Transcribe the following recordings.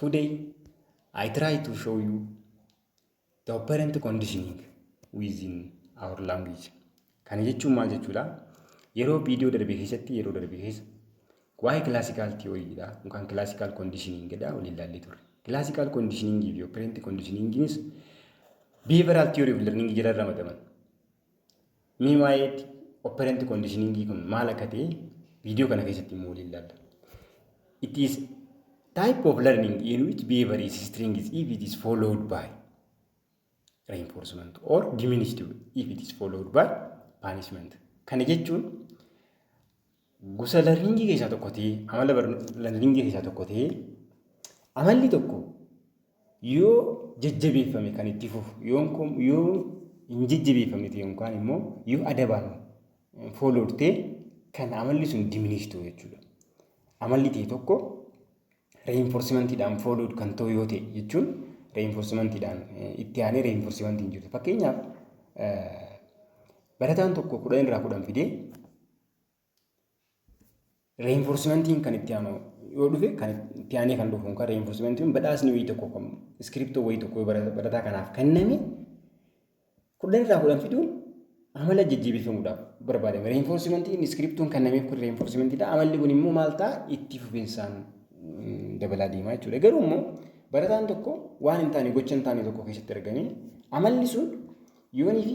Today, I try to show you the operant conditioning within our language. Kana jechuun maal jechuudha? Yeroo viidiyoo darbe keessatti yeroo darbe keessa waa'ee classical theory dha yookaan classical conditioning dha waliin ilaallee turre. Classical conditioning fi operant conditioningis behavioral theory of learning jala ramadaman. Mee waa'ee operant conditioning kun maal akka ta'e viidiyoo kana keessatti immoo waliin ilaalla. It is type of learning in which behavior is string is if it is followed by reinforcement or diminished if it is followed by punishment. Kana jechuun Gosa larningii keessaa tokko ta'ee, amala larningii keessaa tokko ta'ee, amalli tokko yoo jajjabeeffame kan itti fufu, yoo hin jajjabeeffame ta'e yookaan immoo yoo adabaan foolortee kan amalli sun diminish ta'u jechuudha. Amalli ta'e tokko reenforsimentiidhaan foolood kan ta'u yoo ta'e jechuun reenforsimentiidhaan itti aanee reenforsimentiin jiru. Fakkeenyaaf barataan tokko kudhan irraa kudhan fidee Reenforsimentiin kan itti aanu yoo dhufe kan itti aanee kan dhufu kan reenforsimentiin badhaasni wayii tokko kan iskiriptoo wayii tokko barataa kanaaf kenname kudhan irraa kudhan fiduun amala jajjabeeffamuudhaaf barbaadame. Reenforsimentiin iskiriptoon kennameef kun reenforsimentiidha. Amalli kun immoo maal ta'a itti fufinsaan dabalaa deemaa jechuudha. Garuu immoo barataan tokko waan hin taane gocha hin taane tokko keessatti argame amalli sun yoonii fi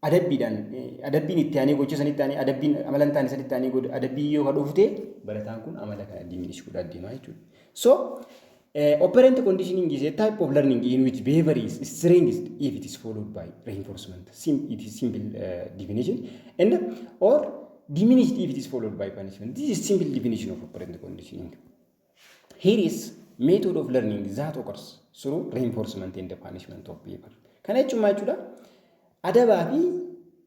adabbiidhaan adabbiin itti aanee gocha sanitti aanee adabbiin amala hin taane sanitti aanee godha adabbii yoo ka dhufte barataan kun amala kana diminish godha deemaa jechuudha. So operant conditioning is a type of learning in which behavior is strengthened if it is followed by reinforcement. Sim it is simple uh, definition and or diminished if it is followed by punishment. This is simple definition of operant conditioning. Here is method of learning that occurs through reinforcement and punishment of behavior. Kana jechuun maal jechuudha? Adabaa fi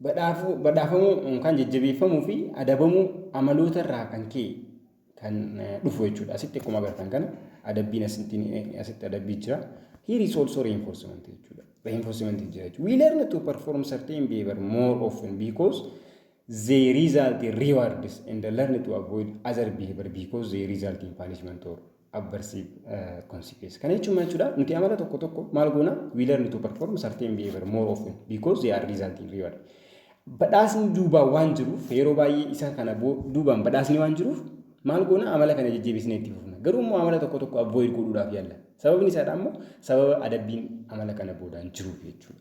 badhaafamuu yookaan jajjabeeffamuu fi adabamuu amaloota irraa kan ka'e kan dhufu jechuudha. Asitti akkuma agartan kana adabbiin asitti adabbii jira. Here is also reinforcement jechuudha. Reinforcement jira jechuudha. We learn to perform certain behavior more often because They result in rewards and learn to avoid other behavior because they result in punishment or adverse uh, consequence. Kana jechuun maal jechuudha? Nuti amala tokko tokko maal goona? We learn to perform certain behavior more often because they are result in reward. Badhaasni duubaa waan jiruuf yeroo baay'ee isa kana boo- duubaan badhaasni waan jiruuf maal goona? Amala kana jajjabeessinee itti fufna. Garuu immoo amala tokko tokko avoid godhuudhaaf yaalla. Sababni isaadha immoo sababa adabbiin amala kana boodaan jiruuf jechuudha.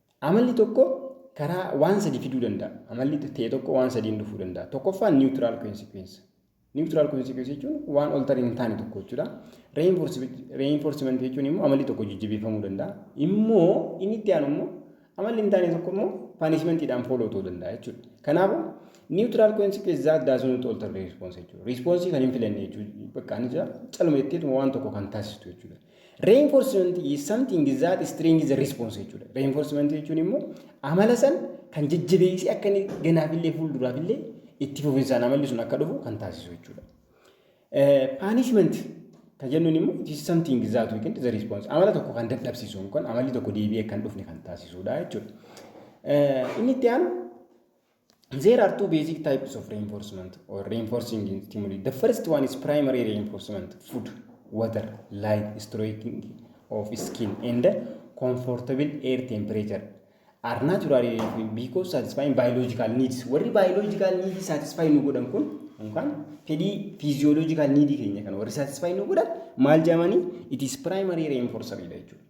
Amalli tokko karaa waan sadi fiduu danda'a. Amalli ta'e tokko waan sadiin dhufuu danda'a. Tokkoffaan niwutiraal kwensikweensa. Niwutiraal kwensikweensa jechuun waan oltariin hin taane tokko jechuudha. Reenfoorsimantii jechuun immoo amalli tokko jajjabeeffamuu danda'a. Immoo inni itti aanu immoo amalli hin taane tokko immoo paanishimentiidhaan fooloo ta'uu danda'a jechuudha. Kanaafuu niwutiraal kwensikweensi zaat daasuun oltar riispoonsi jechuudha. Riispoonsii kan hin filanne jechuudha. Bakka ani jira caluma jetteetuma waan tokko kan taasistu jechuudha. Reinforcement is something that strengthens the response jechuudha. Reinforcement jechuun immoo amala san kan jajjabeessee akka inni ganaafillee fuulduraafillee itti fufinsaan amalli sun akka dhufu kan taasisu jechuudha. Punishment kan jennuun immoo it is something that we can the response amala tokko kan dadhabsiisu yookaan amalli tokko deebi'ee kan dhufne kan taasisudha jechuudha. Inni itti aanu There are two basic types of reinforcement or reinforcing stimuli. The first one is primary reinforcement, food, water, light, stroking of skin and comfortable air temperature are naturally reinforcing because satisfying biological needs. Warri biological need satisfy nu godhan kun yookaan fedhii physiological need keenya kan warri satisfy nu godhan maal jedhamanii it is primary reinforcer jechuudha.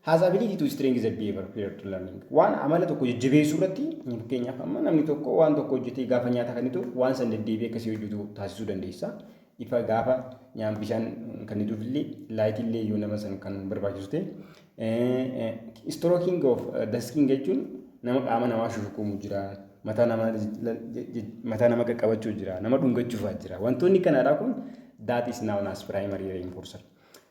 Has ability to strengthen the behavior prior to learning. Waan amala tokko jajjabeessuu irratti fakkeenyaaf amma namni tokko waan tokko hojjetee gaafa nyaata kennituuf waan san deddeebi'ee akkasii hojjetu taasisuu dandeessa. Ifa gaafa nyaan bishaan kennituuf illee laayitii illee yoo nama san kan barbaachisu ta'e. Strooking of the skin jechuun nama qaama namaa shushukumu jira. Mataa nama mataa nama qaqqabachuu jira. Nama dhungachuufaa jira. Wantoonni kanaadhaa kun that is known as primary reinforcer.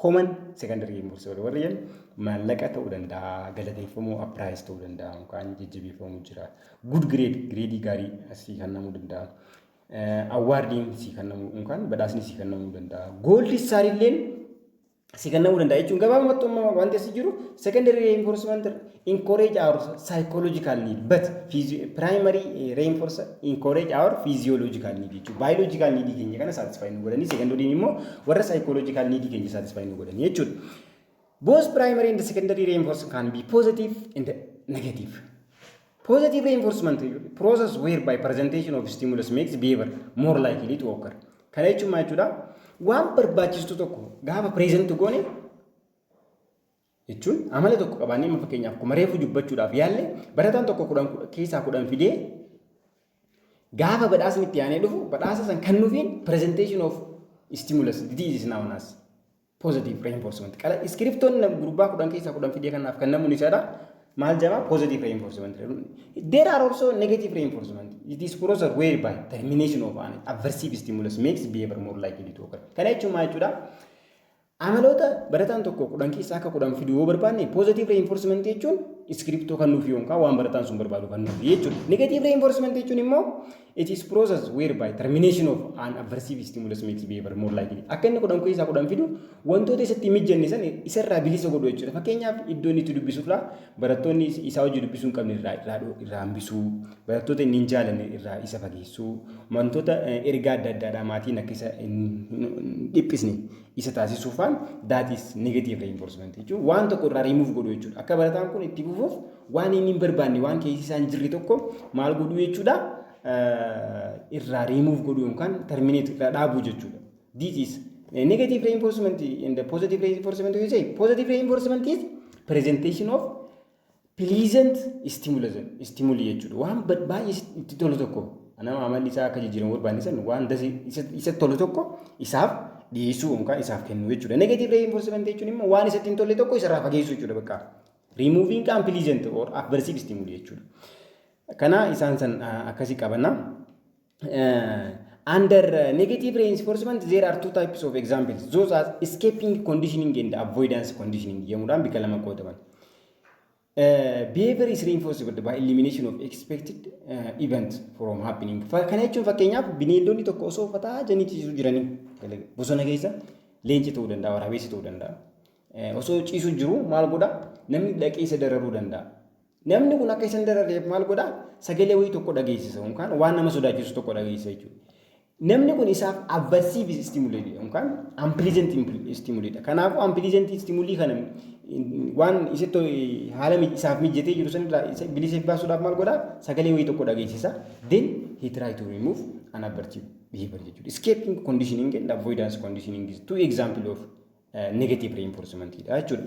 Common secondary impulse wal warri jedhan maallaqa ta'uu danda'a, galateeffamuu appiraayis ta'uu danda'a, yookaan jajjabeeffamuu jira. Good grade, gireedii gaarii asii kennamuu danda'a. Awwaardiin sii kennamuu yookaan badhaasni sii kennamuu danda'a. Gooldi istaar illeen sii kennamuu danda'a jechuun gabaabumatti wanti asii jiru secondary reinforcement encourage our psychological need but physio- primary eh, reinforce encourage our physiological need jechuudha. Biological need keenya kana satisfy nu godhanii secondary immoo warra psychological need keenya satisfy nu godhanii jechuudha. Both primary and secondary reinforce can be positive and negative. Positive reinforcement process whereby presentation of stimulus makes behavior more likely to occur. Kana jechuun maal jechuudha? Waan barbaachistu tokko gaafa present goone jechuun amala tokko qabaannee amma fakkeenyaaf akkuma reefu dubbachuudhaaf yaalle barataan tokko kudhan keessaa kudhan fidee gaafa badhaasni itti aanee dhufu badhaasa san kan nufiin presentation of stimulus disease is known as positive reinforcement qala iskiriptoon gurbaa kudhan keessaa kudhan fidee kanaaf kan namuun isaadha maal jedhama positive reinforcement there are also negative reinforcement it is process whereby termination of an aversive stimulus makes behavior more likely to occur kana jechuun maal jechuudha Amaloota barataan tokko kudhan keessaa akka kudhan fidu yoo barbaanne positive reinforcement jechuun iskiriptoo kan nuuf yookaan waan barataan sun barbaadu kan nuuf jechuudha. Negative reinforcement jechuun immoo it is process whereby termination of an aversive stimulus makes behavior more likely. Akka inni kudhan keessaa kudhan fidu wantoota isatti hin mijanne san isarraa bilisa godhu jechuudha. Fakkeenyaaf iddoo inni itti dubbisu irraa barattoonni isaa hojii dubbisuu hin qabne irraa irraa irraa hambisuu, barattoota inni hin jaalanne irraa isa fageessuu, wantoota ergaa adda addaadhaa maatiin akka isa hin dhiphisne isa taasisuu faan that is negative reinforcement jechuun waan tokko irraa remove godhu jechuudha. Akka barataan kun itti fufuuf waan inni hin barbaanne waan keessi isaa hin jirre tokko maal godhu jechuudha irraa remove godhu yookaan terminate irraa dhaabuu jechuudha. This is negative reinforcement and the positive reinforcement you say positive reinforcement is presentation of Pleasant stimulation, stimuli jechuudha. Waan ba- baay'ee is- itti tolu tokko nama amalli isaa akka jijjiiramu barbaanne san waan dasi isa- isatti tolu tokko isaaf dhiyeessuu yookaan isaaf kennuu jechuudha. Negative reinforcement jechuun immoo waan isatti hin tolle tokko isarraa fageessuu jechuudha bakka. Removing unpleasant or aversive stimuli jechuudha. Kana isaan san ah, akkasii qabanna. Uh, under uh, negative reinforcement there are two types of examples those are escaping conditioning and avoidance conditioning jedhamuudhaan bakka lama qoodaman uh, behavior is reinforced by elimination of expected uh, event from happening Fa- kana jechuun fakkeenyaaf bineeldonni tokko osoo uffata janiitiisuu jiranii gala- bosona keessa leenci ta'uu danda'a waraabessi ta'uu danda'a Eh, osoo ciisu jiru maal godha namni dhaqee isa dararuu danda'a Namni kun akka isan darareef maal godha? Sagalee wayii tokko dhageessisa yookaan waan nama sodaachisu tokko dhageessisa jechuudha. Namni kun isaaf aversive stimuli yookaan unpleasant stimuli dha. Kanaafuu unpleasant stimuli kana waan isitti haala isaaf mijjatee jiru sanirraa isa bilisa baasuudhaaf maal godha? Sagalee wayii tokko dhageessisa. Then he try to remove an aversive behavior jechuudha. Escaping conditioning and avoidance conditioning is two example of uh, negative reinforcement dha jechuudha.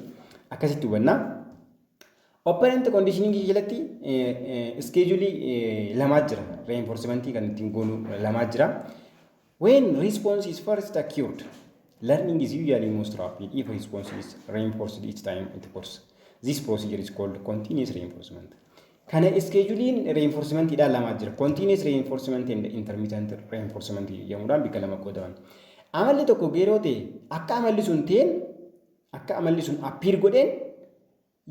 Akkasitti hubannaa. Operant conditioning jalatti iskeejulii lamaa jira. Reinforcement kan ittiin goonu lamaa jira. When response is first acute, learning is usually most rapid if response is reinforced each time it occurs. This procedure is called continuous reinforcement. Kana iskeejuliin reinforcementiidhaan lamaa jira. Continuous reinforcement and intermittent reinforcement jedhamuudhaan bakka lama qoodaman. Amalli tokko geeroo ta'e akka amalli sun ta'een Akka amalli sun appear godheen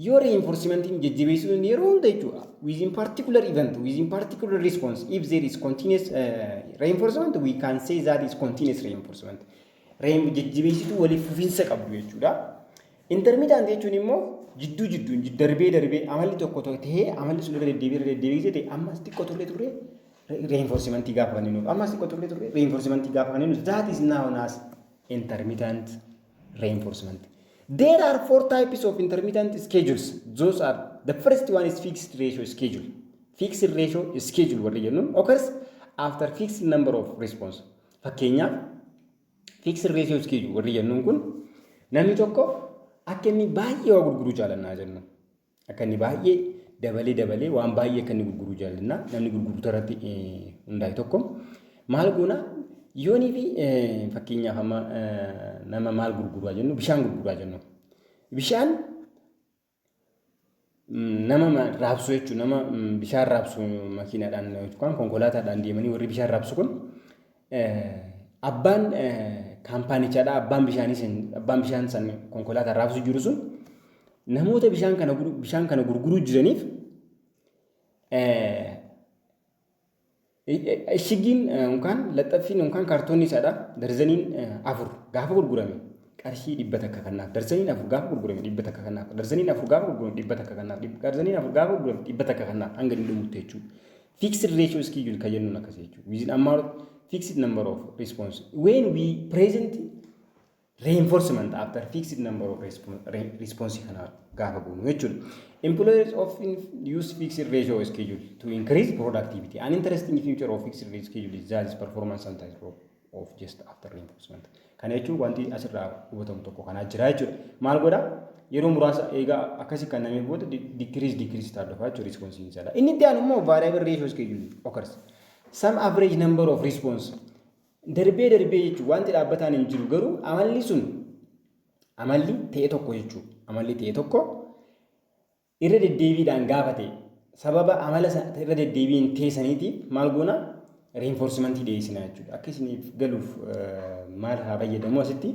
yoo reinforcementiin jajjabeessuu danda'e yeroo hunda jechuudha. Within particular event, within particular response, if there is continuous uh, reinforcement, we can say that is continuous reinforcement. Rein- Jajjabeessituu waliif fufiinsa qabdu jechuudha. Intermittent jechuun immoo jidduu jidduun jid- darbee darbee amalli tokko tokko ta'ee amalli sun irra deddeebi'ee irra deddeebi'ee ta'e ammas xiqqoo turre turre reinforcementii gaafa kan jennuuf ammas xiqqoo turre turre reinforcementii gaafa kan jennuuf that is known as intermittent reinforcement. There are four types of intermittent schedules. Those are the first one is fixed ratio schedule. Fixed ratio schedule warri jennu occurs after fixed number of response. Fakkeenyaaf fixed ratio schedule warri jennuun kun namni tokko akka inni baay'ee waa gurguruu jaalannaa jennu. Akka inni baay'ee dabalee dabalee waan baay'ee akka inni gurguruu jaallanna. Namni gurgurtu irratti hundaa'e tokko maal goona yoonii fi fakkeenyaaf amma nama maal gurguraa jennu bishaan gurguraa jennu. Bishaan nama raabsu jechuun nama bishaan raabsu makiinaadhaan yookaan konkolaataadhaan deemanii warri bishaan raabsu kun Abbaan kaampaanichaadha. Abbaan bishaanii sun abbaan bishaan san konkolaataa raabsu jiru sun namoota bishaan kana bishaan kana gurguruu jiraniif ishiggiin yookaan laxxaffiin yookaan kaartoonni isaadha darzaniin afur gaafa gurgurame qarshii dhibba takka kannaaf darzaniin afur gaafa gurgurame dhibba takka kannaaf darzaniin afur gaafa gurgurame dhibba takka kannaaf darzaniin afur gaafa gurgurame dhibba takka kannaaf hanga dhumutti jechuudha. Fixed ratio schedule kan jennuun akkasii jechuudha. Within amount fixed number of response. When we present reinforcement after fixed number of response, response kana gaafa goonu jechuudha. Employers often use fixed ratio schedule to increase productivity. An interesting feature of fixed ratio schedule is that its performance sometimes of just after reinforcement. Kana jechuun wanti asirraa hubatamu tokko kanaa jira jechuudha. Maal godha? Yeroo muraasa eegaa akkasii kan namee booda decrease decrease ta'a dhufa jechuudha response hin jala. Inni itti aanu immoo variable ratio schedule occurs. Some average number of response. Darbee darbee jechuun wanti dhaabbataan hin jiru garuu amalli sun amalli ta'e tokko jechuudha. Amalli ta'e tokko irra deddeebiidhaan gaafate sababa amala sa- irra deddeebiin ta'e saniiti maal goona reenfoorsimantii dhiyeessina jechuudha. Akka isiniif galuuf eh, maal haa fayyadamu asitti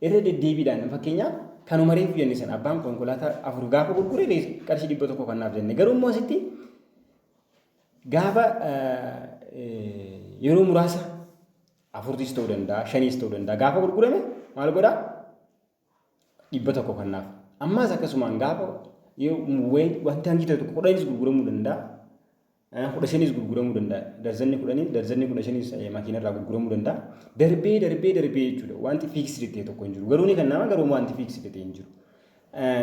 irra deddeebiidhaan fakkeenyaaf kanuma reefu jenne sana abbaan konkolaataa afur gaafa gurgure rees- qarshii dhibba tokko kannaaf jenne garuu immoo asitti gaafa eh, yeroo muraasa afurtis ta'uu danda'a shaniis ta'uu danda'a gaafa gurgurame maal godhaa dhibba tokko kannaaf. Ammaas akkasumaan gaafa wanti hangi ta'e tokko kudhanis gurguramuu danda'a. Kudha shanis gurguramuu danda'a. Darzanni kudhanii darzanni kudha shanis makiinarraa gurguramuu danda'a. Darbee darbee darbee jechuudha. Wanti fiiksidi ta'e tokko hin jiru. Garuu ni kennama garuu wanti fiiksidi ta'e hin jiru.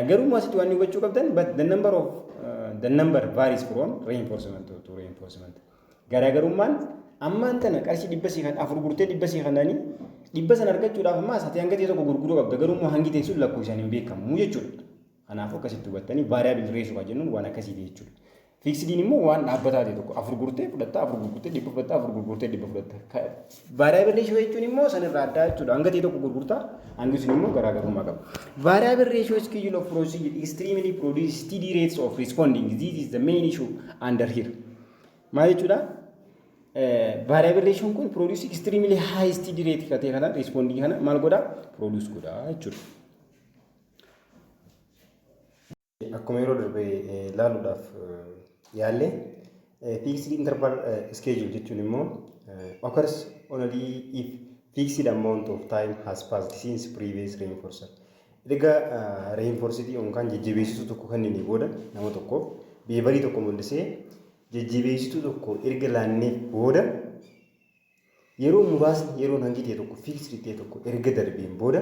Garuu asitti waan hubachuu qabdan but the number of the number varies from reinforcement to reinforcement. Garaagarummaan ammaan tana qarshii dhibba sii kan afur gurtee dhibba sii kanani dhibba san argachuudhaaf ammaas ati hanga ta'e tokko gurguruu qabda garuu immoo hangi ta'e sun lakkoofsaan hin beekamu jechuudha. Kanaafuu akkasitti hubattanii variable ratio kan jennuun waan akkasiiti jechuudha. Fiiksidiin immoo waan dhaabbataa ta'e tokko afur gurtee fudhatta afur gurgurtee dhibba fudhatta afur gurgurtee dhibba fudhatta. Variable ratio jechuun immoo sanirraa addaa jechuudha hanga ta'e tokko gurgurtaa hangi sun immoo garaagarummaa qaba. Variable ratio schedule of procedure extremely produces steady rates of responding this is the main issue under here. Maal jechuudha? Variabilization kun produce extremely high steed rate ka ta'e kana responding kana maal godha? Produce godha jechuudha. Akkuma yeroo darbe ilaaluudhaaf yaalle fixed interval schedule jechuun immoo occurs only if fixed amount of time has passed since previous reinforcer. Erga reinforced yookaan jajjabeessituu tokko kennine booda nama tokkoof beevarii tokko mul'isee jajjabeessituu tokko erga laanneef booda yeroo muraasni yeroon hangi ta'e tokko fiiksidi ta'e tokko erga darbeen booda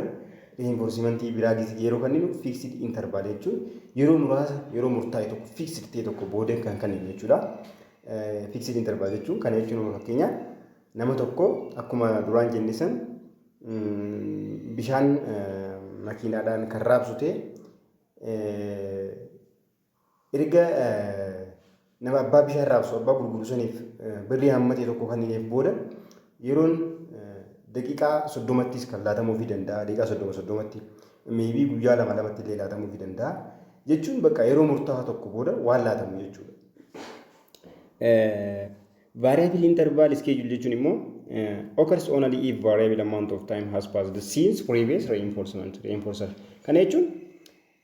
reinforsimantii biraa gisee yeroo kenninu fiiksidi intervaal jechuun yeroo muraasa yeroo murtaa'e tokko fiiksidi ta'e tokko booda kan kenninu jechuudha. Fiiksidi intervaal jechuun kana jechuun fakkeenyaaf nama tokko akkuma duraan jenne san bishaan makiinaadhaan kan raabsu ta'e erga nama abbaa bishaan raabsu abbaa gurguru saniif birrii hamma ta'e tokko kennineef booda yeroon daqiiqaa soddomattis kan laatamuufii danda'a daqiiqaa soddoma soddomatti meebii guyyaa lama lamatti illee laatamuufii danda'a jechuun bakka yeroo murtaa'aa tokko booda waan laatamu jechuudha. Variable interval schedule jechuun immoo occurs only if variable amount of time has passed since previous reinforcement reinforcer. Kana jechuun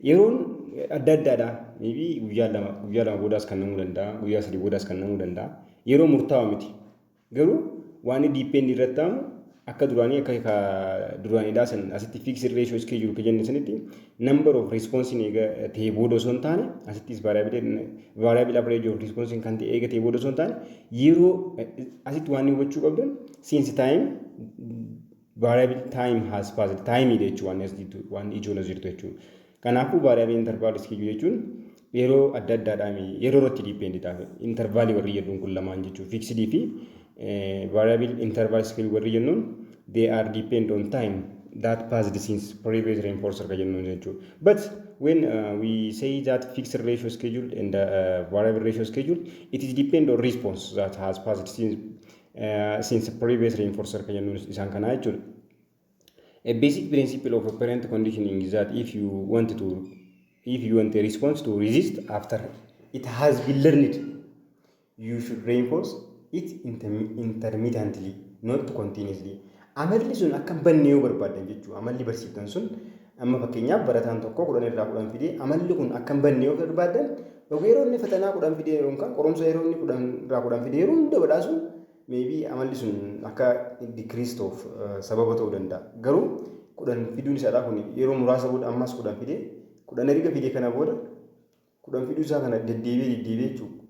yeroon adda addaadha. Maybe guyyaa lama guyyaa lama boodaas kan namuu danda'a guyyaa sadii boodaas kan namuu danda'a. Yeroo murtaa'aa miti. Garuu waan diippeendi irratti ta'amu akka duraanii akka ka duraaniidhaa san asitti fixed ratio is kee jiru ka jenne sanitti number of response ni eega ta'ee booda osoo hin taane asittis variable variable average of response kan ta'e eega ta'ee booda osoo hin taane yeroo asitti waan hubachuu qabdan since time variable time has passed time dha jechuudha waan as jirtu waan ijoon as jirtu jechuudha. Kanaafuu vaariyaabilii intarvaal iskiijuu jechuun yeroo adda addaadhaan yeroo irratti diipeendii ta'a. Intarvaalii warri jedhuun kun lamaan jechuun fiiksidii fi vaariyaabilii intarvaal iskiijuu warri jennuun they are depend on time that passed since previous rainfall circa jennuun jechuudha. But when uh, we say that fixed ratio schedule and uh, variable ratio schedule, it is depend on response that has passed since, uh, since previous rainfall circa jennuun isaan kanaa jechuudha. A basic principle of operant conditioning is that if you want to if you want a response to resist after it has been learned, you should reinforce it intermi- intermittently, not continuously. Amalli sun akka hin banne yoo barbaadan jechuudha. Amalli barsiiftan sun amma fakkeenyaaf barataan tokko kudhan irraa kudhan fidee amalli kun akka hin banne yoo barbaadan yeroo inni fatanaa kudhan fidee yookaan qorumsa yeroo inni kudhan irraa kudhan fidee yeroo hunda badhaasuun Maybe amalli sun akka decrease ta'uuf sababa ta'uu danda'a. Garuu kudhan fiduun isaadhaa kun yeroo muraasa booda ammas kudhan fidee kudhan erga fidee kana booda kudhan fiduu isaa kana deddeebi'ee deddeebi'ee jechuudha.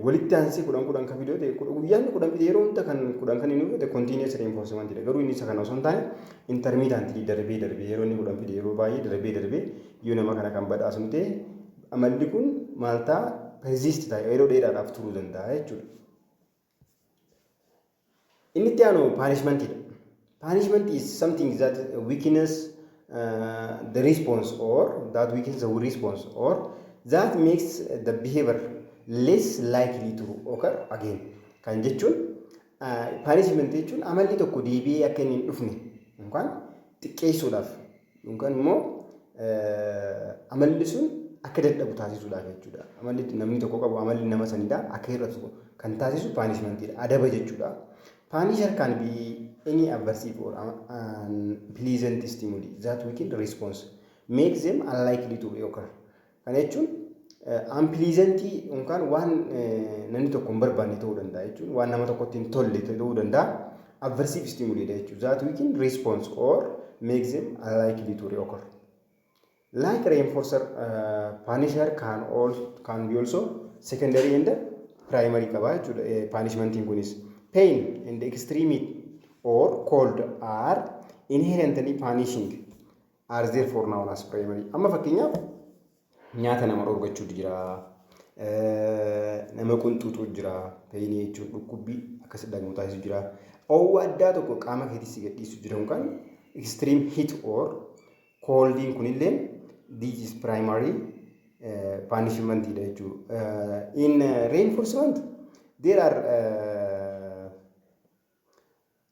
Walitti aansee kudhan kudhan kan fidee ta'e guyyaan kudhan fidee yeroo hunda kan kudhan kan inni fudhate continuous reinforcement dha. Garuu inni isa kana osoo hin taane intermittent darbee darbee yeroo inni kudhan fide yeroo baay'ee darbee darbee yoo nama kana kan badhaasnu ta'e amalli kun maal ta'a persist ta'a yeroo dheeraadhaaf turuu danda'a jechuudha. Inni itti aanu punishment dha. Punishment is something that weakens uh, the response or that weakens the response or that makes the behavior less likely to occur again. Kan jechuun uh, punishment jechuun amalli tokko deebi'ee akka inni hin dhufne yookaan xiqqeessuudhaaf Yookaan immoo amalli sun akka dadhabu taasisuudha jechuudha. Amalli namni tokko qabu amalli nama sanidha. Akka hir'atu kan taasisu paanishmantiidha. Adaba jechuudha. Paanishar kan be any aversive or unpleasant stimuli that weaken response make them unlikely to reoccur. Kana jechuun unpleasantii yookaan waan namni tokko hin barbaanne ta'uu danda'a jechuun waan nama tokkotti hin tolle ta'uu danda'a. Aversive stimuli dha jechuun that weaken response or makes them unlikely to reoccur. Like reinforcer, uh, punisher can, all, can be also secondary and primary qaba jechuudha eh, punishmentiin kunis. Pain and extremity or cold are inherently punishing. are there for now as primary. Amma fakkeenyaaf nyaata nama dhorgachuutu jira. Nama qunxuutu jira. Peyinii jechuun dhukkubbii akkas dhagamu taasisu jira. Oowwa addaa tokko qaama keetii si gadhiisu jira yookaan extreme heat or coldin kunillee this is primary punishment dha jechuudha. In reinforcement there are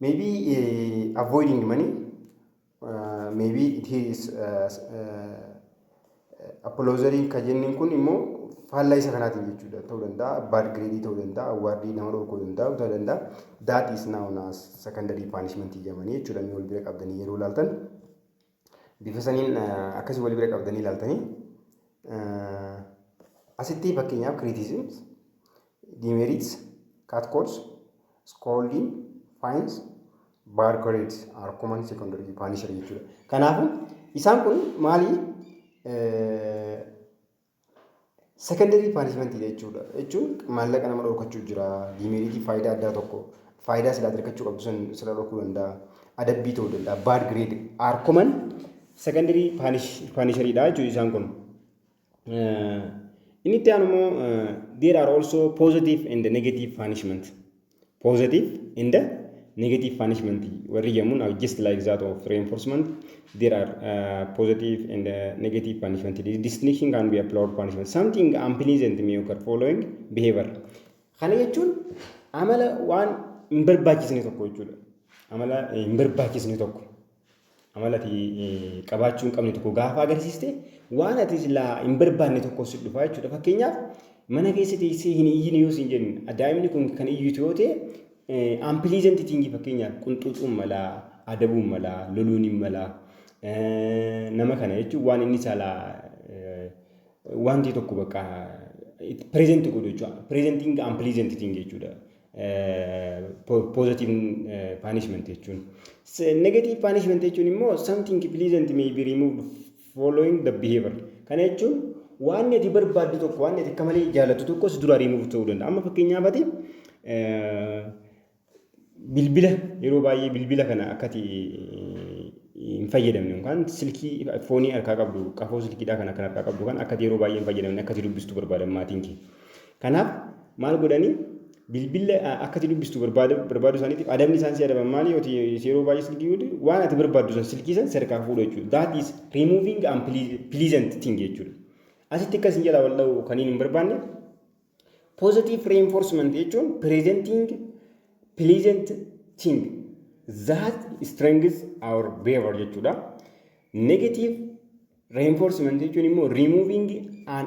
Maybe uh, avoiding money, uh, maybe it is uh, uh, apologery ka jennin kun immoo faallaa isa kanaatiin jechuudha ta'uu danda'a bad grade ta'uu danda'a awwaardii nama dhorkuu danda'a ta'uu danda'a that is now na secondary punishment jedhamanii jechuudha inni wal bira qabdanii yeroo laaltan Bifa saniin akkasii wal bira qabdanii ilaaltanii asitti fakkeenyaaf criticisms, demerits, catcalls, scolding, fines, bad grades are common secondary punisher jechuudha. Kanaafuu isaan kun maali Secondarii paanishmentii jechuudha. Jechuun maallaqa nama dhorkachuu jira. Diimeeriitii faayidaa addaa tokko faayidaa silaa argachuu qabdu san sirra dhorkuu danda'a. Adabbii ta'uu danda'a. Baad gireed aarkoman secondarii paanishariidha jechuudha isaan kun. Inni itti aanu immoo there are also positive and negative punishment. positive and negative punishment warri jamuun are just like that of reinforcement there are uh, positive and uh, negative punishment the distinction can be applied punishment something unpleasant may occur following behavior kana jechuun amala waan hin barbaachisne tokko jechuudha amala hin barbaachisne tokko Amala ati qabaachuu hin qabne tokko gaafa agarsiiste waan ati silaa hin barbaanne tokko si dhufa jechuudha. Fakkeenyaaf mana keessa teessee hin iyyine yoo siin jennu daa'imni kun kan iyyitu yoo ta'e ampiliizanti tiingii fakkeenyaaf qunxuuxuun malaa adabuun malaa loluun hin malaa nama kana jechuun waan inni saalaa wanti tokko bakka pireezenti godhu jechuudha. Pireezentiin ampiliizanti tiingii jechuudha. positive punishment jechuun. Negative punishment jechuun immoo something pleasant may be removed following the behavior. Kana jechuun waan ati barbaaddu tokko waan ati akka malee jaallattu tokkos dura remove ta'uu danda'a. Amma fakkeenyaaf ati bilbila yeroo baay'ee bilbila kana akkati hin fayyadamne yookaan silkii foonii harkaa qabdu qafoo silkiidhaa kan akka harkaa qabdu kan akkati yeroo baay'ee hin fayyadamne akkati dubbistu barbaadan maatiin kee. Kanaaf maal godhanii bilbilla akka ati dubbistu barbaaduu isaaniitiif adabni isaan si adaban maali yoo yeroo baay'ee silkii godhu waan ati barbaaddu san silkii san serkaa fuudhu jechuudha. That is removing and pleasant thing jechuudha. Asitti akka isin jalaa wal dha'u kan hin barbaanne positive reinforcement jechuun presenting pleasant thing that strengthens our behavior jechuudha. Negative reinforcement jechuun immoo removing an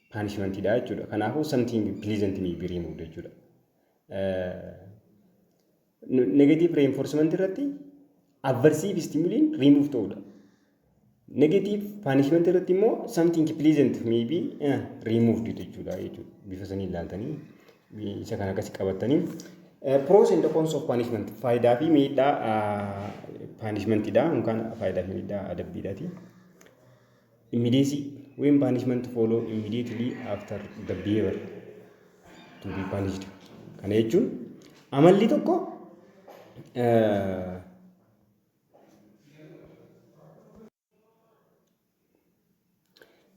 punishment dha jechuudha. Kanaafuu something pleasant may be removed jechuudha. Negative reinforcement irratti aversive stimuliin remove ta'uudha. Negative punishment irratti immoo something pleasant may be eh, removed jechuudha jechuudha. Bifa sanii ilaaltanii isa kana akkasi qabatanii. Eh, Pros and cons of punishment faayidaa fi miidhaa punishment dha yookaan faayidaa fi miidhaa adabbiidhaati. Immediacy, When punishment follow immediately after the behavior to be punished. Kana jechuun amalli tokko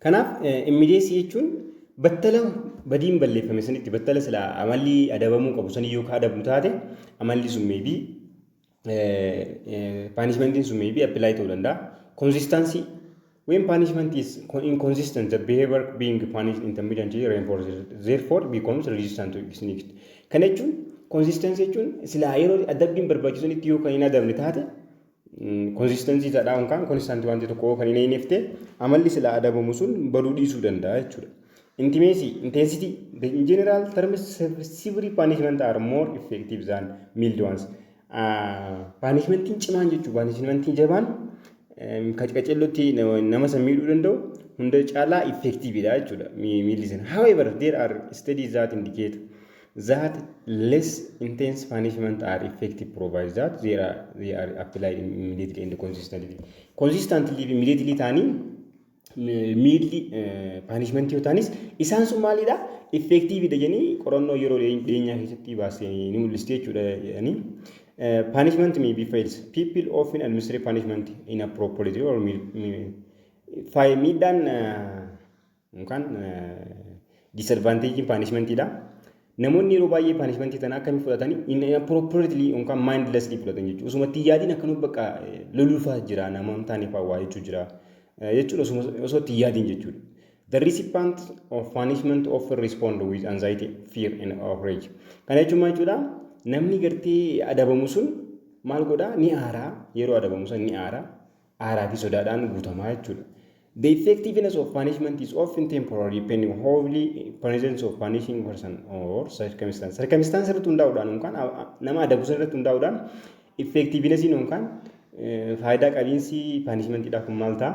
Kanaaf immediacy jechuun battala badiin balleeffame sanitti battala silaa amalli adabamuu qabu sanii yoo ka adabu taate amalli sun meebii paanishmentiin sun maybe apply ta'uu danda'a. Consistency when punishment is inconsistent the behavior being punished intermittently reinforces therefore becomes resistant to its next. Kana jechuun consistency jechuun silaa yeroo adabbiin barbaachisanitti yoo kan hin adabne taate consistency taadhaa yookaan constant wanti tokko yoo kan hin eeynefte amalli silaa adabamu sun baduu dhiisuu danda'a jechuudha. Intimeesii, Intensity, The in general terms severe punishment are more effective than mild ones. Paanishmentiin cimaan jechuun paanishmentiin jabaan qacqacellotti nama san miidhuu danda'u hunda caalaa effectividha jechuudha miilli sana. However, there are studies that indicate that less intense punishment are effective provided that they are, they are applied immediately and consistently. Consistently immediately ta'anii miilli paanishmentii yoo ta'anis isaan sun maalidha? Effektiividha jedhanii qorannoo yeroo dhiyeenyaa keessatti baasee ni mul'isti jechuudha jedhanii. Paanishment may be fails. People often administer punishment in a property or faayil miidhaan yookaan disadvanteejiin paanishmentiidha. Namoonni yeroo baay'ee paanishmantii tana akkami fudhatani inappropriately yookaan mindlessly fudhatan jechuudha. Osuma itti yaadiin akkanuma bakka loluufaa jira nama hin taane fa'aa waa jechuu jira jechuudha osuma osoo itti yaadiin jechuudha. The recipient of punishment often respond with anxiety, fear and outrage. Kana jechuun maal jechuudha? Namni gartee adabamu sun maal godhaa ni aaraa yeroo adabamu san ni aaraa aaraa fi sodaadhaan guutamaa jechuudha. The effectiveness of punishment is often temporary depending on holy presence of punishing person or circumstance. Circumstance irratti hundaa'uudhaan yookaan nama adabu san irratti hundaa'uudhaan effectiveness yookaan faayidaa qabiinsi punishment dha kun maal ta'a?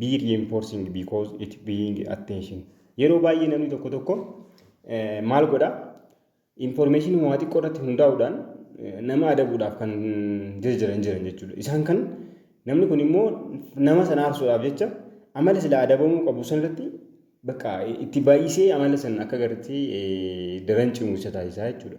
be reinforcing because it being attention yeroo baay'ee namni tokko tokko maal godha information waa xiqqoo irratti hundaa'uudhaan nama adabuudhaaf kan jijjiiran jiran jechuudha isaan kan namni kun immoo nama sana aarsuudhaaf jecha amala sila adabamuu qabu sanarratti bakka itti baay'isee amala sana akka gartee daran cimu isa taasisaa jechuudha.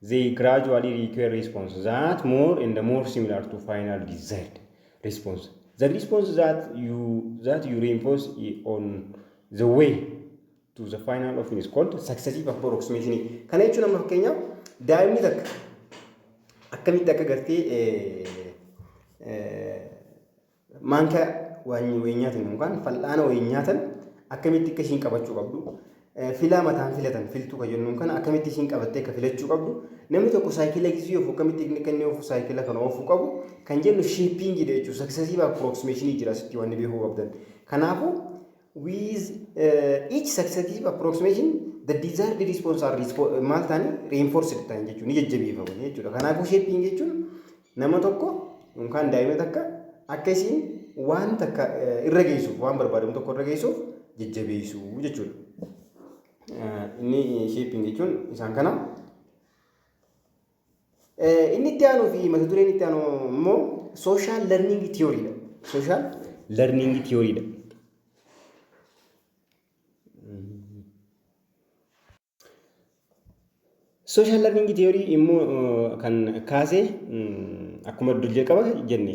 They gradually require response that more and more similar to final desired response. The response that you that you reinforce on the way to the final often is called successive approximation. Kana jechuun amma fakkeenyaaf daa'imni takka akkamitti akka gartee Maankaa waanyi wayii nyaatan yookaan fal'aana wayii nyaatan akkamitti akka ishiin qabachuu qabdu filaa mataan filatan filtuu kan jennuun kana akkamitti ishiin qabattee akka filachuu qabdu namni tokko saayikila gisii ofu akkamitti inni kan inni ofu saayikila kana oofuu qabu kan jennu shiippiingiidha jechuudha saksasiif approximation jira asitti waan beekuu qabdan kanaafuu With each successive approximation the desired response are respo- maal ta'anii reinforced ta'an jechuudha. Ni jajjabeeffamu jechuudha. Kanaafuu shaping jechuun nama tokko yookaan daa'ima takka akka isiin waan takka eh, irra geessuuf waan barbaadamu tokko irra geessuuf jajjabeessuu jechuudha. Eh, Inni shaping jechuun isaan kana. Inni itti aanuu fi mata dureen itti aanu immoo sooshaal lerniingi tiyooriidha. Sooshaal lerniingi tiyooriidha. Sooshaal lerniingi tiyoorii immoo kan kaase akkuma dur jalqaba jenne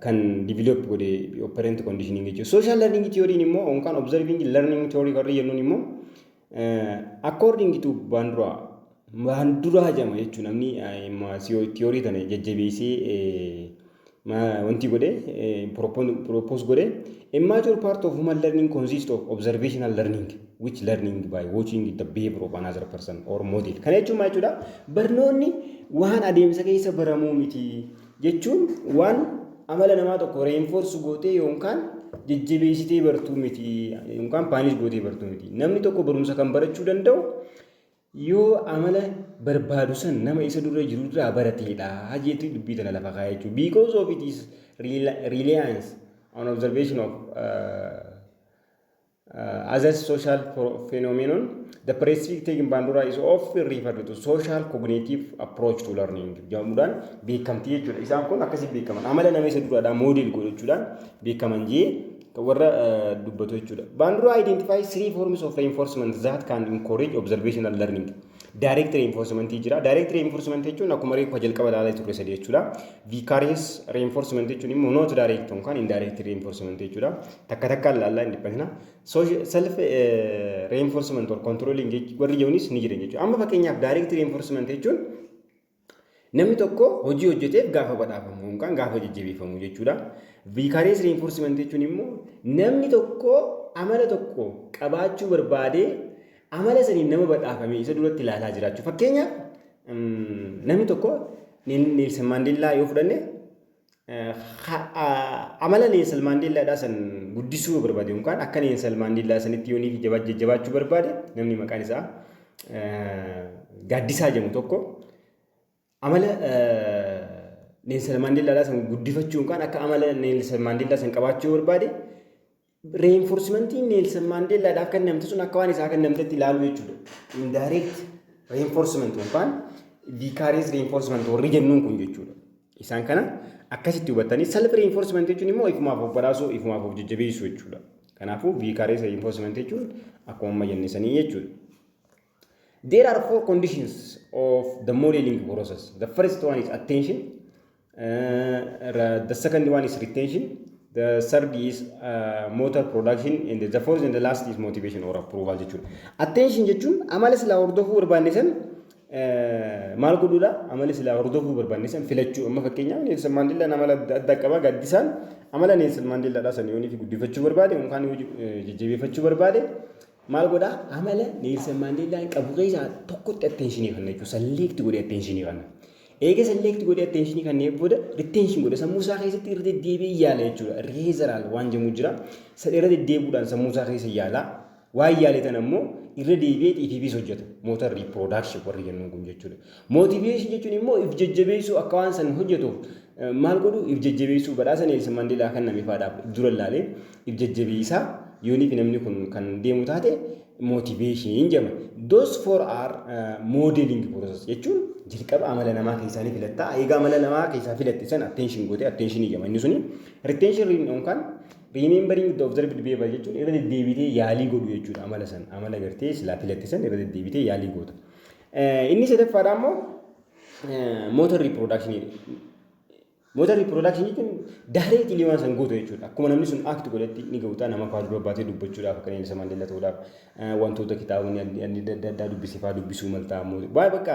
kan develop godhe operant conditioning jechuudha. Social learning theory immoo yookaan observing learning theory warri jennuun immoo according to Bandura Banduraa jedhama jechuudha namni theory tana jajjabeessee wanti godhe propose godhe immature part of human learning consists of observational learning which learning by watching the behavior of another person or model. Kana jechuun maal jechuudha? Barnoonni waan adeemsa keessa baramuu miti jechuun waan amala namaa tokko reenfoorsu gootee yookaan jajjabeessitee bartuu miti yookaan paanis gootee bartuu miti. Namni tokko barumsa kan barachuu danda'u yoo amala barbaadu san nama isa dura jiru irraa barateedha jeetu dubbii tana lafa kaa'ee jechuudha. Because of it is reliance on observation of uh, Other social phenomenon, the prescriptive taking bandura is often referred to social cognitive approach to learning jedhamuudhaan beekamtii jechuudha. Isaan kun akkasiin beekaman amala nama isa duraadhaa moodel godhachuudhaan beekaman jee warra dubbatu jechuudha. Bandura identifies three forms of reinforcement that can encourage observational learning. Direct reinforcement jira. Direct reinforcement jechuun akkuma reefu jalqaba ilaalaa turre sadii jechuudha. Vicarious reinforcement jechuun immoo not direct yookaan indirect reinforcement jechuudha. takka takkaan laallaa hin dhiphatina. Self reinforcement or controlling warri jedhanis ni jiran jechuudha. Amma fakkeenyaaf direct reinforcement jechuun namni tokko hojii hojjeteef gaafa badhaafamu yookaan gaafa jajjabeeffamu jechuudha. Vicarious reinforcement jechuun immoo namni tokko amala tokko qabaachuu barbaadee amala saniin nama badhaafame isa duratti ilaalaa jiraachuu. Fakkeenyaaf namni tokko Neelsan Maandeellaa yoo fudhanne amala Neelsan Maandeellaadhaa san guddisuu yoo barbaade yookaan akka Neelsan Maandeellaa sanitti yoo niifi jabaa jajjabaachuu barbaade namni maqaan isaa gaaddisaa jedhamu tokko amala Neelsan Maandeellaadhaa san guddifachuu yookaan akka amala Neelsan Maandeellaa san qabaachuu yoo barbaade Reenforsimantiin Neelsan Maandeellaadhaaf kennamte sun akka waan isaa kennamtetti ilaaluu jechuudha. Indirect reenforsimant yookaan viikaariyees reenforsimant warri jennuun kun jechuudha. Isaan kana akkasitti hubattanii self reenforsimant jechuun immoo ifumaaf of badhaasuu ifumaaf of jajjabeessuu jechuudha. Kanaafuu viikaariyees reenforsimant jechuun akkuma amma jenne sanii jechuudha. There are four conditions of the modeling process. The first one is attention. Uh, the second one is retention. The third is uh, motor production and the fourth and the last is motivation or approval jechuudha. Attention jechuun amala silaa hordofuu barbaanne san maal godhuudha? Amala silaa hordofuu barbaanne san filachuu. Amma fakkeenyaaf Neelsan Maandeellaan amala adda addaa qaba. Gaddisaan amala Neelsan Maandeellaadhaa san yoonii fi guddifachuu barbaade yookaan jajjabeeffachuu barbaade Maal godha? Amala Neelsan Maandeellaan qabu keessaa tokkotti atteenshinii kanna jechuudha. Salleekti godhee atteenshinii kanna. Eega salleekti godhee atteenshinii kannee booda riteenshin godha. Sammuu isaa keessatti irra deddeebi'ee yaala jechuudha. Reezaraal waan jedhamu jira. San irra deddeebuudhaan sammuu isaa keessa yaala. Waan yaale tan ammoo irra deebi'ee xiifiifiis hojjeta. Mootar riipiroodaakshii warri jennuun kun jechuudha. Motivation jechuun immoo if jajjabeessuu akka waan san hojjetuuf maal godhu if jajjabeessuu badhaasa Neelsan Mandeelaa kan name faadhaaf dura laale if jajjabeessaa yooniif namni kun kan deemu taate motivation jedhama. Those four are uh, modeling process jechuun jalqaba amala namaa keessaa ni filatta. Egaa amala namaa keessaa filatte san attention goote attention jedhama inni suni. Retention ring on kan remembering the observed behavior jechuun irra deddeebitee yaalii godhu jechuudha amala san amala gartee silaa filatte san irra deddeebitee yaalii goota. Inni sadaffaadhaa immoo motor reproduction jedha. Motor reproduction jechuun daareetilii waan san guutu jechuudha. Akkuma namni sun act godhetti ni ga'uutaa nama fa'aa dura baatee dubbachuudhaaf akka Nelson Mandela ta'uudhaaf wantoota kitaabonni adda addaa dubbise fa'aa dubbisuu maltaa immoo waan bakka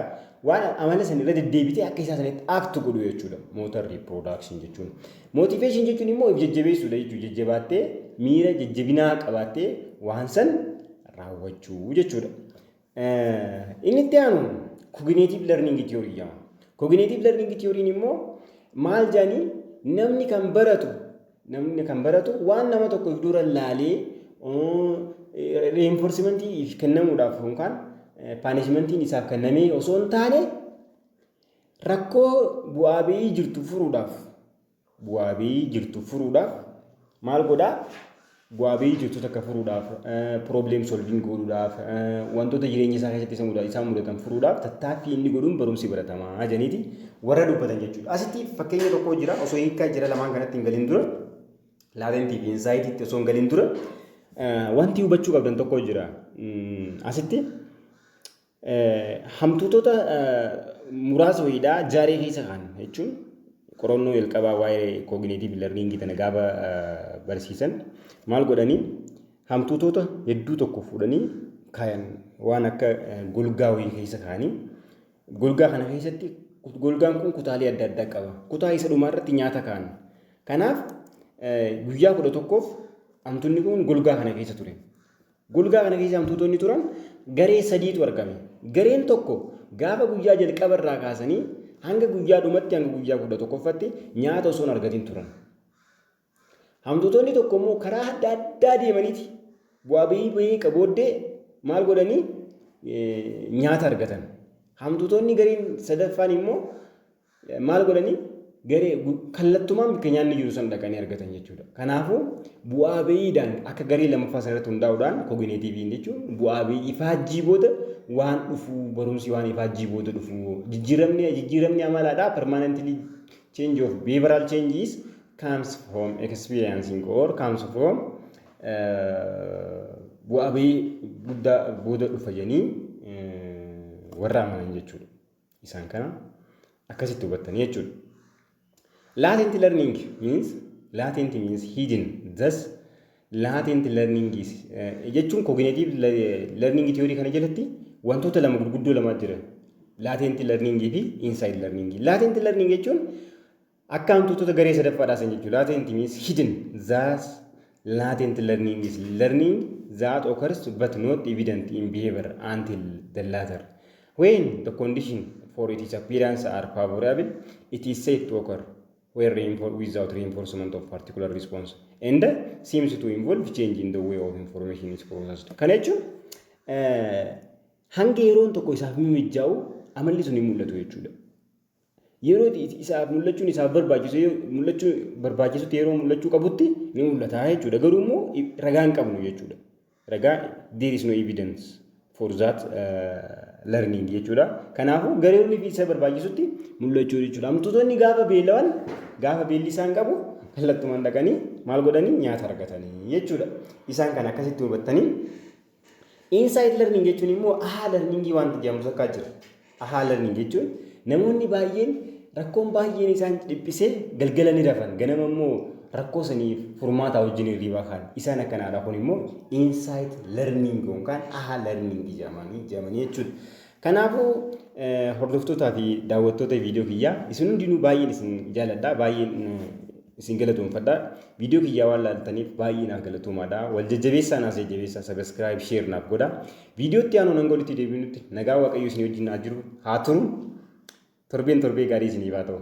waan amala san irra deddeebitee akka isaa sanitti act godhu jechuudha. Motor reproduction jechuun. Motivation jechuun immoo of jajjabeessuudha jechuudha. Jajjabaattee miira jajjabinaa qabaattee waan san raawwachuu jechuudha. Inni itti aanu kogineetiiv lerniingi tiyoorii jedhama. Kogineetiiv lerniingi tiyooriin immoo maal jedhanii namni kan baratu namni kan baratu waan nama tokko dura laalee reenforsimentii kennamuudhaaf yookaan paanishimentiin isaaf kennamee osoo hin taane rakkoo bu'aa ba'ii jirtu furuudhaaf Bu'aa bayii jirtu furuudhaaf maal godhaa? Bu'aa bayii jirtu takka furuudhaaf, problem solving godhuudhaaf, wantoota jireenya isaa keessatti isa muda- isaan mudatan furuudhaaf tattaaffii inni godhuun barumsi baratamaa jedhaniiti warra dubbatan jechuudha. Asitti fakkeenya tokko jira osoo hiikaa jira lamaan kanatti hin galin dura laatentii fi insaayitiitti osoo hin galin dura eh, wanti hubachuu qabdan tokko jira. Mm, Asitti Hamtuutota muraasa wayiidha jaaree keessa kaan jechuun qorannoo jalqabaa waa'ee kooginiitiiv lerniingii tana gaafa barsiisan maal godhanii hamtuutota hedduu tokko fuudhanii kaayan waan akka golgaa wayii keessa kaanii golgaa kana keessatti golgaan kun kutaalee adda addaa qaba. Kutaa isa dhumaa irratti nyaata kaan. Kanaaf guyyaa kudha tokkoof hamtuunni kun golgaa kana keessa ture. Golgaa kana keessa hantuutonni turan garee sadiitu argame. Gareen tokko gaafa guyyaa jalqaba irraa kaasanii hanga guyyaa dhumatti hanga guyyaa kudha tokkoffatti nyaata osoo hin argatin turan. Hantuutonni tokko immoo karaa adda addaa deemaniiti bu'aa bahii bahii qabooddee maal godhanii nyaata argatan. Hantuutonni gareen sadaffaan immoo Maal godhanii? Garee kallattumaan bakka nyaanni jiru san dhaqanii argatan jechuudha. Kanaafuu bu'aa bayiidhaan akka garee lammaffaa sana irratti hundaa'uudhaan kogineetiiviin jechuun bu'aa bayii ifaajjii booda waan dhufu barumsi waan ifaajjii booda dhufu jijjiiramni jijjiiramni amalaadhaa permanently change of behavioral changes comes from experiencing or comes from bu'aa bayii guddaa booda dhufa jedhanii warra amanan jechuudha. Isaan kana akkasitti hubattanii jechuudha. Latent learning means latent means hidden thus latent learning is eh, jechuun cognitive le- learning theory kana jalatti wantoota lama gurguddoo lama jira. Latent learning fi inside learning. Latent learning jechuun Akka hantuutota garee sadaffaa dhaasan jechuu latent means hidden thus latent learning is learning that occurs but not evident in behavior until the latter when the condition for its appearance are favorable it is said to occur where reinforced without reinforcement of particular response and seems to involve change in the way of information is processed kana jechuun hanga yeroon tokko isaaf mijaa'u amalli sun hin mul'atu jechuudha. Yeroo itti isaaf mul'achuun isaaf barbaachisu mul'achuu barbaachisutti yeroo mul'achuu qabutti ni mul'ata jechuudha. Garuu immoo ragaa hin qabnu jechuudha. Ragaa there is no evidence for that learning jechuudha. Kanaafuu gareewwan fi isa barbaachisutti mul'achuu jechuudha. Amtuutonni gaafa beelawan gaafa beelli isaan qabu kallattumaan dhaqanii maal godhanii nyaata argatanii jechuudha. Isaan kan akkasitti hubattanii Inside learning jechuun immoo ahaa learning wanti jedhamu takkaa jira. Ahaa learning jechuun namoonni baay'een rakkoon baay'een isaan dhiphisee galgala ni rafan ganama immoo rakkoo saniif furmaataa wajjin hirriibaa kaan isaan akkanaadha kun immoo inside learning yookaan ahaa learning jedhamanii jedhamanii jechuudha. Kanaafuu hordoftootaa fi daawwattoota viidiyoo kiyyaa isin hundinuu baay'een isin jaaladha baay'een isin galatoomfadha viidiyoo kiyyaa waan laaltaniif baay'ee naaf galatoomaadha wal jajjabeessaa naaf jajjabeessaa sabiskiraayib sheer naaf godha viidiyootti aanuun hanga walitti deebinutti nagaa waaqayyo isin wajjin haa jiru haa turu torbeen torbee gaarii isiniif haa ta'u.